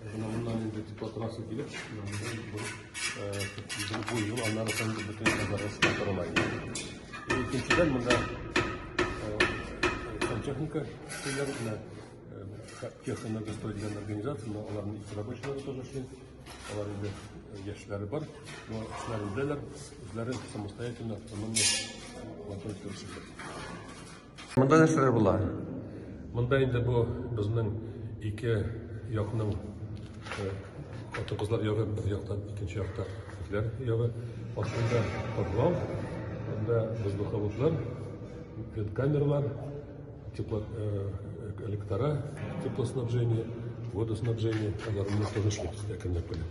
Менә моннан инде депутатрасы килеп, бу ел аннары сон бөтен казармасы торыла инде. Икенчедән монда сантехника көйләр менә техно достойдиган организация, но аларның икесе рабочийлары тоже эшли. Алар инде яшьләре бар, но эшләрендәләр, үзләре самостоятельно автономия Монда нәрсәләр була? Монда инде бу безнең ике якның хатын-кызлар ягы, бер яктан, икенче якта итләр ягы. Астында подвал, анда воздуховодлар, камерлар, тепло, электора, теплоснабжение, водоснабжение, аларны тынычлык әкренләп кенә.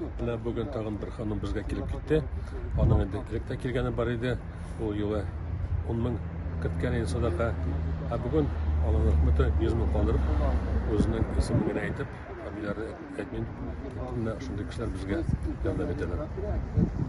Менә бүген тагын бер ханым безгә килеп китте. Аның инде элек тә килгәне бар иде. Ул юлы 10 мең керткән иде садака. Ә бүген алланың рәхмәте 100 мең калдырып, үзенең исемен генә әйтеп, фамилияләрне әйтмим. Менә шундый кешеләр безгә ярдәм итәләр.